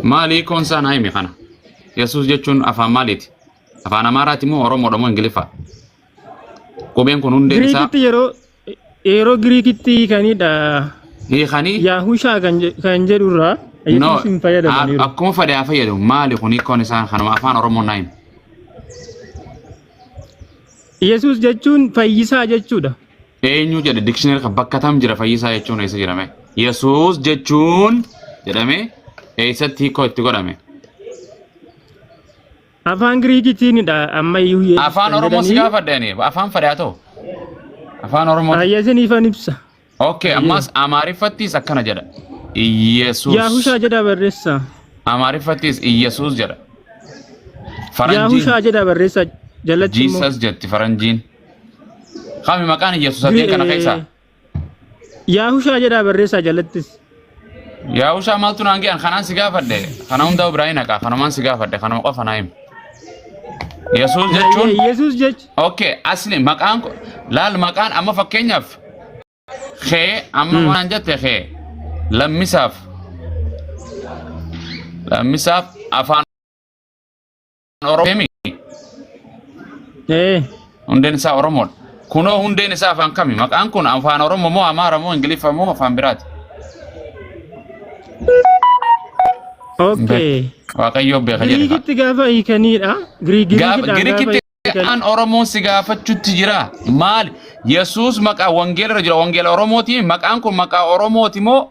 Maali hiikoon isaa naa himi kana. Yesuus jechuun afaan maaliiti? Afaan Amaaraati moo Oromoodha moo Ingiliffaa? Qubeen kun hundeen isaa Giriikitti yeroo yeroo Giriikitti hiikanidha. hiikanii Yaahushaa kan je- kan jedhurraa no Yesuus hin fayyadamaniiru. akkuma fedhe haa fayyadamu maali kun hiikoon isaa kanuma afaan Oromoo naa himi. Yesuus jechuun fayyisaa jechuudha. Eenyu jedhe dictionary kan bakka tam jira fayyisaa jechuun eessa jedhame? Yesuus jechuun jedhame eessatti hiikoo itti godhame? Afaan Giriikiitiinidha ammayyuu Yesuus Afaan kan Oromoo si jedhanii. gaafadhe ani afaan fadhe haa ta'u. Afaan Oromoo. Ayya isiniifan ibsa. Okay ammas Amaariffattis akkana jedha. Yesuus. Yaahushaa jedha barreessa. Amaariffattis Yesuus jedha. Faranjiin Yaahushaa jedha barreessa jalatti immoo. Jesus jetti faranjiin. Kami maqaan Yesuus sadeen kana keessaa? Yaahushaa jedhaa barreessaa jalattis. Yaahushaa maaltu naan ge'an kanaan si gaafadhe. Kana hundaa biraa hin haqaa kanumaan si gaafadhe kanuma qofa naa hima. Yesuus jechuun Yesuus jecha. okay asli maqaan ko- laal maqaan amma fakkeenyaaf kee amma waan jette kee lammisaaf lammisaaf afaan Oromoo Ee. hundeen isaa Oromoodha. Kunoo hundeen isaa afaan kami? Maqaan kun afaan Oromoo moo Amaara moo Ingiliffa moo afaan biraati? Okay. Waaqayyoo beeka jedhe. Giriikitti gaafa hiikaniidha. Giriikitti Kan Oromoon si gaafachutti jira. Maal? Yesuus maqaa wangeela irra jira. Wangeela Oromooti. Maqaan kun maqaa Oromooti moo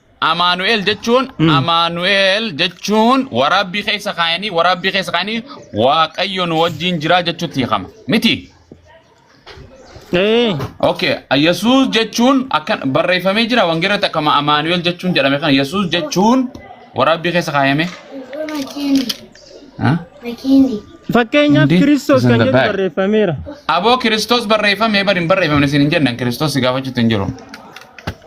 Amaanu'eel jechuun Amaanu'eel jechuun waraabbii keessa kaayanii waraabbii keessa kaayanii waaqayyo nu wajjin jira jechuutti hiikama. Miti. Ee. Okay. Yesuus jechuun akkan barreeffamee jira wangeerratti akkama Amaanu'eel jechuun jedhame kana Yesuus jechuun waraabbii keessa kaayame. Huh? Fakkeenyaaf Hindi Kiristoos is in kan the jedhu back. barreeffameera. Aboo Kiristoos barreeffamee bari hin barreeffamne isin hin jennan Kiristoos si gaafachuutti hin jiru.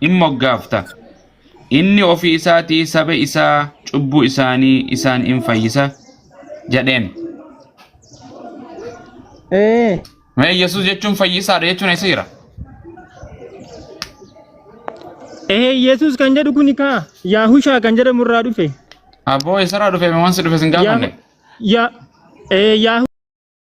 in moggaafta. Inni ofii isaatii saba isaa cubbuu isaanii isaan in fayyisa jedheen. Ee. Mee Yesuus jechuun fayyisaadha jechuun eessa jira? Ee Yesuus kan jedhu kuni kaa Yaahushaa kan jedhamu irraa dhufe. Abboo eessarraa dhufe wansi dhufe sin gaafanne? Yaa Ee Yaahushaa.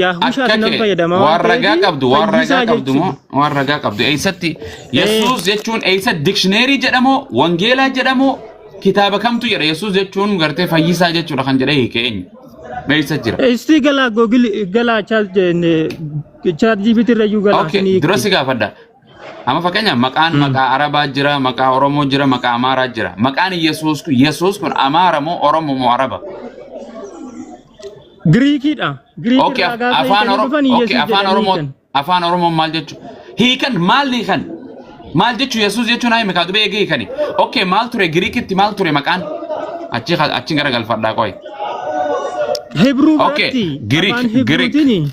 Yaahushaatti Akka nan kee fayyadama waan waan ragaa ta'eef qabdu waan ragaa fayyisaa qabdu jechuun. moo waan ragaa qabdu eessatti Yesuus jechuun eessa dikshineerii jedhamoo wangeelaa jedhamoo kitaaba kamtu jedha Yesuus jechuun gartee fayyisaa jechuudha kan jedhee hiike eenyu eessa jira. Istii galaa googili galaa chaat chaat jibitirra iyyuu galaa Okay, sinii dura si gaafadha. Amma fakkeenyaaf maqaan Hmm. maqaa Arabaa jira, maqaa Oromoo jira, maqaa Amaaraa jira. Maqaan Yesuus kun Yesuus kun Amaara moo Oromoo moo Araba? Giriikiidha. Giriik Okay, irraa gaafa afaan hiikanii Oromoo dhufan okay, Yesuus afaan jedhanii Oromoo hiikan. afaan Oromoo maal jechuun? Hiikan maal hiikan? Maal jechuun Yesuus jechuun hayi mikaa dubee eegee hiikani. Okay, maal ture Giriikitti maal ture maqaan? Achi achi gara galfadhaa qoy. Hibruu Okay, biratti Giriik, afaan Giriik. Hibruutiin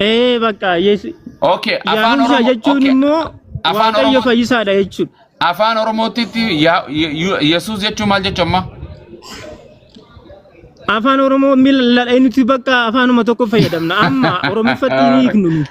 Ee bakka Yesu Okay, afaan Yaahumsa Oromoo jechuun okay. immoo Afaan Waaqayyo Oromoo- fayyisaadha jechuudha. Afaan Oromootitti yaa- Ye- Ye- Yesuus jechuun maal jechuun amma? Afaan Oromoo miila nuti bakka afaanuma tokko fayyadamna. Amma Oromiffatti hin hiiknu nuti.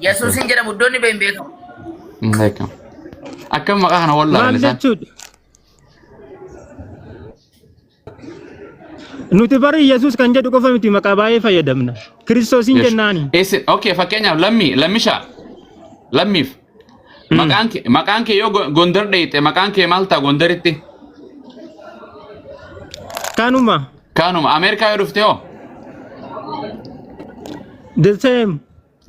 Yesuusin jedhamu iddoon ni beeyin beekamu. Hin beekamu. Akkam maqaa kana wallaalan Maal isaan? jechuudha? Nuti bari Yesuus kan jedhu qofa miti maqaa baay'ee fayyadamna. Kiristoosiin Yes. jennaani. Isin okay fakkeenyaaf lammii lammishaa lammiif maqaan kee maqaan kee yoo go- gondar dheeyxe maqaan kee maal ta'a gondaritti Kanuma. kaanuma Ameerikaa yoo dhufte hoo The same.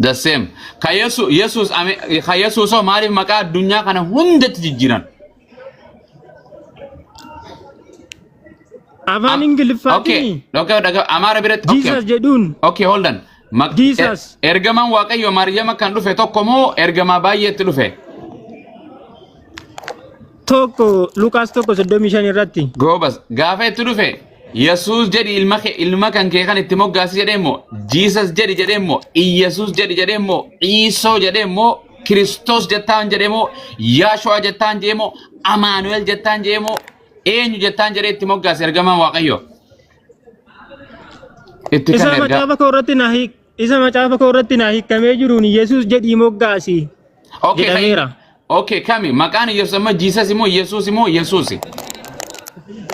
The same. Ka Yesu- Yesuus ame- ka Yesuus hoo maaliif maqaa addunyaa kana hundatti jijjiiran? Afaan Am- Okay, Ingiliffaatiin okay, dhaga- Amaara biratti. Okay. Jesus jedhuun Okay, hold on. Maq- Jesus. er- Ergamaan Waaqayyo Maariyaama kan dhufe tokko moo ergamaa baay'eetti dhufe? tokko Luqaas tokko soddomii shan irratti Goobas. Gaafa itti dhufe Yesuus jedhi ilma kee ilma kan kee kan itti moggaasi jedhee immoo Jiisas jedhi jedhee immoo Iyyasuus jedhi jedhee immoo Iisoo jedhee immoo Kiristoos jettaan jedhee immoo Yaashu'aa jettaan jedhee immoo Amaanu'el jettaan jedhee immoo eenyu jettaan jedhee itti moggaasi ergamaan Waaqayyoo. Itti kan Isaa ergaa. macaafa koo irratti na hiik. Isa macaafa koo irratti naa hiikamee jiruun Yesuus jedhii moggaasi Okay, kan- jedhameera. Okay, kami? Maqaan Yesuus amma Jiisas immoo Yesuus immoo Yesuusi.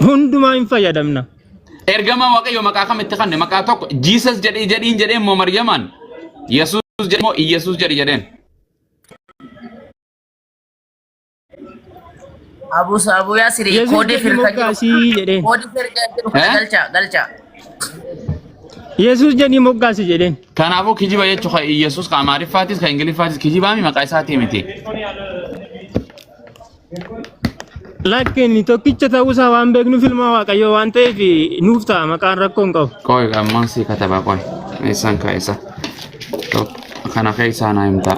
Hundumaa hin fayyadamna. Ergamaa Waaqayyo maqaa kam itti kanne? Maqaa tokko Jiisas jedhee jedhiin jedhee immoo Maryamaan Yesuus jedhee immoo Yesuus jedhi jedheen. Abu Abu Yasir Yesus kode jedhi firqa jiru. moggaasii jedheen. Kode firqa jiru kana Eh? galcha galcha. Yesus jedhi moggaasi jedheen. Kanaafuu kijiba jechuun kan Iyyasuus kan Amaariffaatis kan Ingiliffaatis kijibaami maqaa isaatii miti. Lakki inni tokkicha ta'uusaa waan beeknuuf ilmaa waaqayyoo waan ta'eef nuuf ta'a maqaan rakkoo hin qabu. Qoy ammaan sii katabaa qoy. Eessaan kaa'isa. Kana keessaa naa himtaa.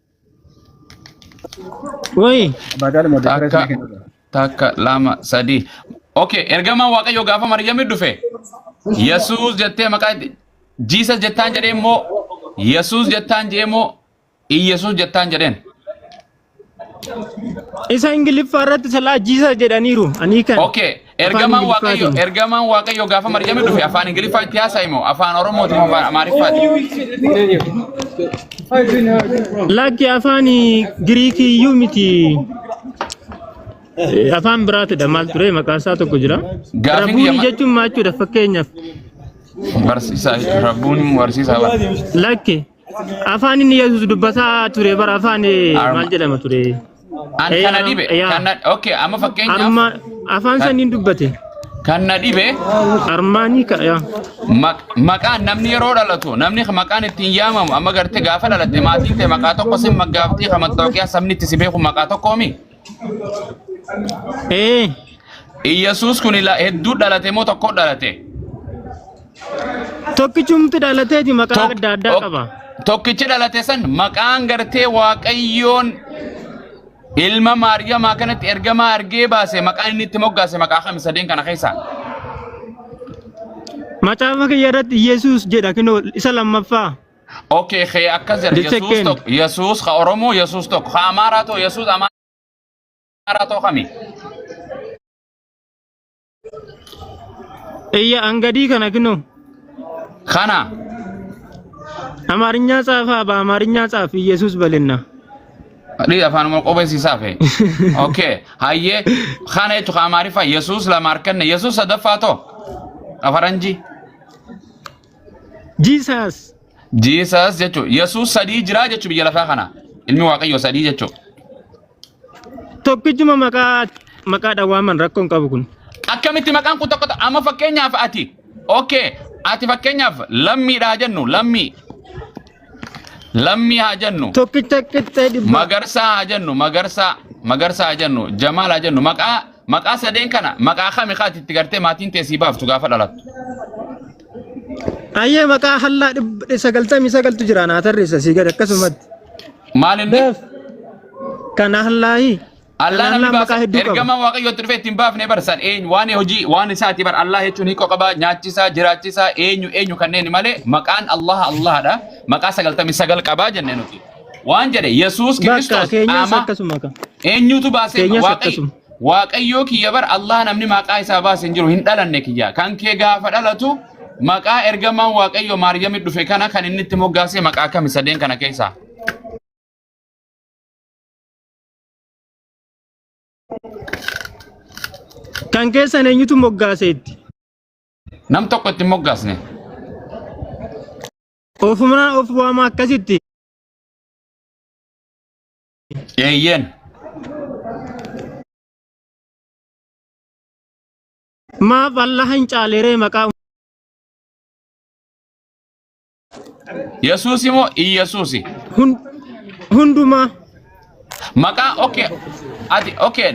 Wayii. Baadaal moo Takka, deebirees ni kenna. takka, lama, sadii. Okay, ergamaan Waaqayyoo gaafa Maryamii dhufe, Yesuus jettee maqaa itti, Jiisas jettaan jedhee immoo, Yesuus jettaan jedhee immoo, Iyyasuus jettaan jedheen. Isa Ingiliffaa irratti salaa jiisa jedhaniiru. Anii kan. Okay, Ergamaan Waaqayyo Ingiliffaatiin. ergamaan Waaqayyo gaafa Maryami dhufe afaan Ingiliffaa itti haasa'e moo afaan Oromootiin afaan Amaariffaati? Lakki afaan Giriikii iyyuu miti. Eh, Afaan biraatidha maal ture maqaan isaa tokko jira. Gaafiin Rabuunii yama- jechuun maal jechuudha fakkeenyaaf. Barsiisaa Rabbuun barsiisaa bara. Lakki Afaan inni Yesuus dubbataa ture bara afaan eh, Arma. maal jedhama ture? An Eh, kana arm- dhibe. yaa. Kan na okay, amma fakkeenyaaf Arma afaan san hin dubbate. kan na dhibe Armaanii ka yaa. maq- maqaan namni yeroo dhalatu namni maqaan ittiin yaamamu amma gartee gaafa dhalatte maatiin ta'e maqaa tokko sin maggaaftee kan mattooqiyaa sabni itti si beeku maqaa tokkoomi. Ee. Iyyasuus kun ila- hedduu dhalate moo tokko dhalate? Tokkichumti dhalateeti maqaa Tok- adda addaa ok- qaba. Tokkichi dhalate san maqaan gartee waaqayyoon ilma maariyamaa kanatti ergamaa argee baase maqaan inni itti moggaase maqaa kami sadeen kana keessaa? Macaafa kiyya irratti Yesuus jedha kinoo isa lammaffaa. Okay, kee akkas jedha. Jecha Yesuus kenni. tokko, Yesuus ka Oromoo, Yesuus tokko. Ka Amaaraa too, Yesuus Amaaraa too kami? Eyya angadii kana kinoo. Kana. Amaarinyaa tsaafaa ba Amaarinyaa tsaaf Iyyasuus balinna. Dhii afaan moo qobeessisaa fe. Okay, hayyee kana jechuun ka Amaariffaa Yesuus lama harkanne, Yesuus sadaffaa too. Ka Faranjii. Jesus. Jesus jechuun Yesuus sadii jiraa jechuun biyya lafaa kana. Ilmi Waaqayyoo sadii jechuun. Tokkichuma maqaa maqaa dhawaaman rakkoo hin qabu kun. Akkamitti maqaan kun tokko amma fakkeenyaaf ati okay ati fakkeenyaaf lammiidha haa jennu lammii lammii haa jennu Tokkicha qixxee dhibba. magarsaa haa jennu magarsaa magarsaa haa jennu jamaal haa jennu maqaa Maqaa sadeen kana maqaa kami kaati itti gartee maatiin tee sii baaftu gaafa dhalattu. Ayyee maqaa hallaa dhibba sagaltamii sagaltu jira naa tarreessa sii gad akkasumatti. Maal inni? Beef kan hallaayi. Allah Kan namni hallaa maqaa baasa hedduu qaba. ergamaan waaqayyootti dhufee ittiin baafne barsan eenyu waan hojii waan isaati bar Allah jechuun hiikoo qaba nyaachisaa jiraachisaa eenyu eenyu kanneen malee maqaan Allah Allahadha maqaa sagaltamii sagal qabaa jenne nuti. Waan jedhe Yesuus Bakka Kiristoos keenyas qaamaa akkasuma ka. eenyutu baasee Keenyas waaqayyo akkasuma. waaqayyoo kiyya bar Allah namni maqaa isaa baase hin jiru hin dhalanne kiyya kan kee gaafa dhalatu maqaa ergamaan waaqayyo Maariyamii dhufe kana kan inni itti moggaasee maqaa kami sadeen kana keessaa Kan keessan eenyutu moggaaseetti? nam tokko itti hin moggaasne Ofumaa of waama akkasitti. Eeyyeen. Maaf Allah hin caaleree maqaa Yesuusi moo Iyyasuusi? hun- hundumaa. Maqaa okay. Ati okay.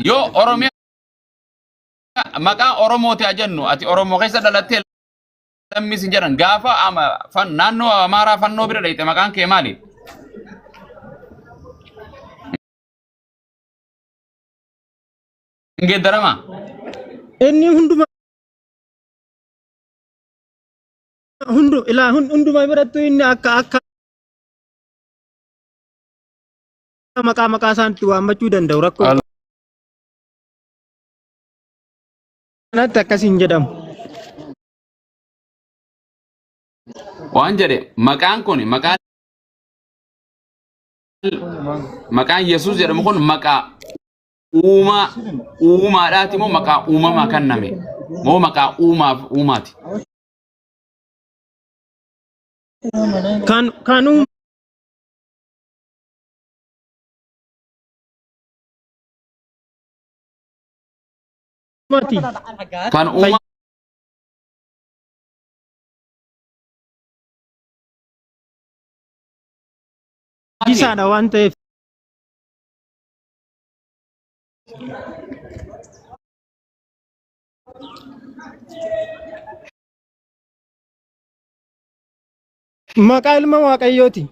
Yoo Oromiyaa maqaa Oromooti haa jennu ati Oromoo keessa dhalattee Lammii sin jedhan gaafa ama fan naannoo Amaaraa fannoo bira dhayxe maqaan kee maali? Hin geeddarama. Inni hunduma hundu ilaa hun- hunduma birattu inni akka akka maqaa maqaa isaanitti waammachuu danda'u rakkoo. kanatti akkas hin jedhamu. Waan jedhe maqaan kun maqaan maqaan Yesuus jedhamu kun maqaa uumaa uumaadhaati moo maqaa uumamaa kenname moo maqaa uumaaf uumaati. Kan kan uum- Mati. Kan uumaa Isaadha waan ta'eef. Maqaa ilma Waaqayyooti.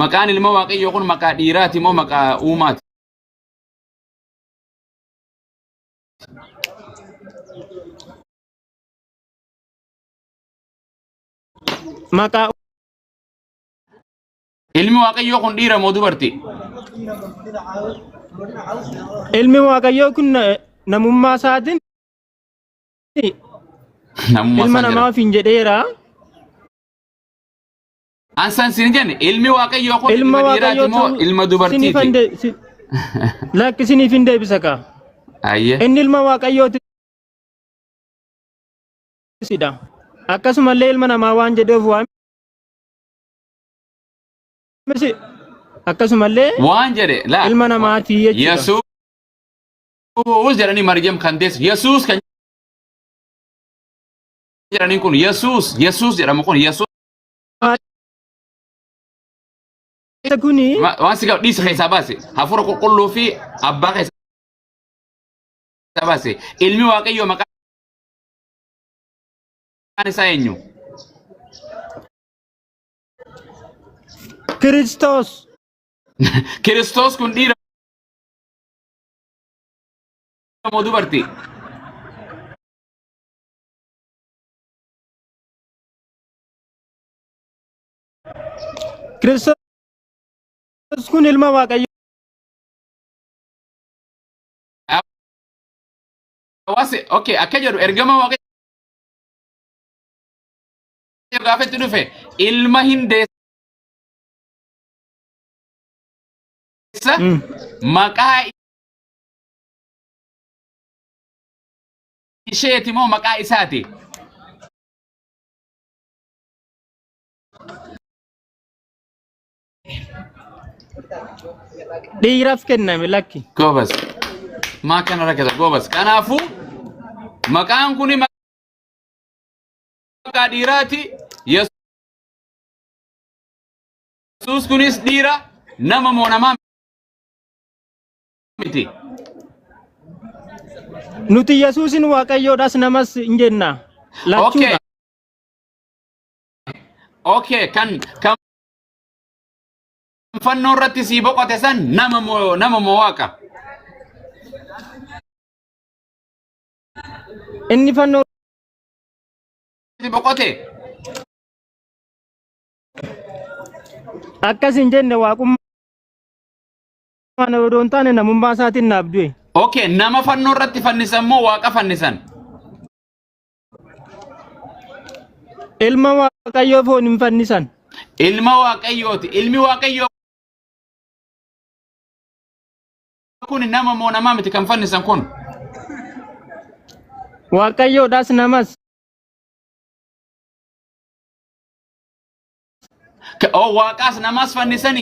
Maqaan ilma waaqayyoo kun maqaa dhiiraati moo maqaa uumaati? Maqaa Ilmi waaqayyoo kun dhiira moo dubarti? ilmi waaqayyoo kun na- namummaa isaatiin Namummaa ilma isaa namaa jira. ofiin jedheera. Ansan sin jenne ilmi waaqayyoo kun ilma ilma dhiiraati waaqayyoo moo ta'uu ilma siniif hin dubartiiti? de- si- lakki siniif hin deebisa kaa Ayyee. inni ilma waaqayyooti sidha akkasumallee ilma namaa waan jedheef waan si- akkasumallee Waan jedhe laa. ilma namaati jechuudha Yesuus jedhanii Maryam kan deessu Yesuus kan jedhaniin kun Yesuus Yesuus jedhamu kun Yesuus Isa kuni Ma- Waan si gaafadhu dhiisi keessaa baase. Hafuura qulqulluu fi abbaa keessaa baase. Ilmi waaqayyoo maqaan isaa eenyu? Kiristoos Kiristoos kun dhiira moo dubartii? Kiristoos kun ilma Waaqayyoo. Hawaasi okay akka jedhu ergama waaqayyo gaafa itti dhufe ilma hin deessa Mm. maqaa isheeti moo maqaa isaati Dhiiraaf kenname lakki. Goobas. Maa kana rakkata goobas. Kanaafuu maqaan kun maqaa dhiiraati. Yesuus kunis dhiira nama moo namaa miti. Nuti Yesuusin Waaqayyoodhas namas hin jenna. Okay. Lachuudha. Okay, kan kan fannoo irratti sii boqote san nama moo nama moo waaqa. Inni fannoo Itti boqote. akkas hin jenne waaqummaa Mana odoo hin taane namummaa isaatiin naaf du'e. Okay, nama fannoo irratti fannisan moo waaqa fannisan? Ilma waaqayyoo foon hin fannisan. Ilma waaqayyooti. Ilmi waaqayyoo kun nama moo namaa miti kan fannisan kun? Waaqayyoodhaas namas. Ka- Oo waaqaas namaas fannisani.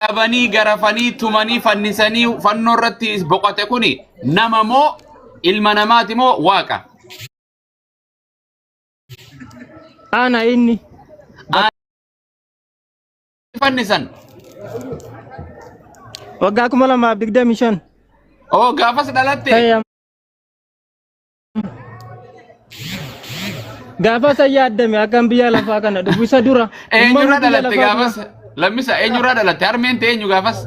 qabanii garafanii tumanii fannisanii fannoo irratti boqote kuni nama moo ilma namaati moo waaqa? Ana inni. Fannisan. Waggaa kuma lamaaf digdamii shan. Oo gaafas dhalatte. Ta'e Gaafa isa yaaddame akkan biyya lafaa kana dhufu isa dura. Eenyurra dhalatte gaafas? Lammisa eenyurra dhalatte? Harmeen ta'e eenyu gaafas?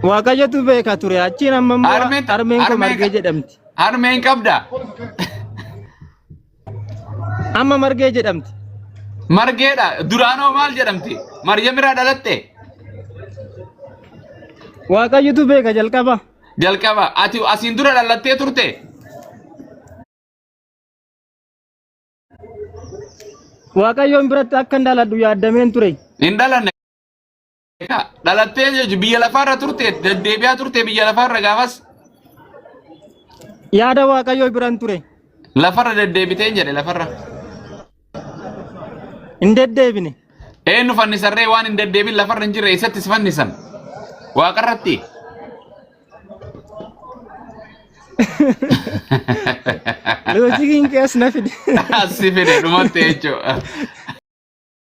Waaqayyotu beeka ture achiin amma immoo harmeen koo margee jedhamti. Harmeen qabda? Amma margee jedhamti. Margeedha. Duraanoo maal jedhamti? Maryam irraa dhalatte? Waaqayyotu beeka jalqaba. Jalqaba. Ati asiin dura dhalattee turte? Waaqayyoon biratti akka hin dhaladhu yaaddameen ture. Hin dhalanne. Egaa dhalattee jechuun biyya lafaarra turte deddeebi'aa turte biyya lafaarra gaafas Yaada Waaqayyoo biran ture. lafarra deddeebiteen jedhe lafarra. Hin deddeebine. Eenyu fannisarree waan hin deddeebin lafarra hin jirre eessatti si fannisan? Waaqarratti. Loojikiin kees na fide. As si fide dhumatti jechuudha.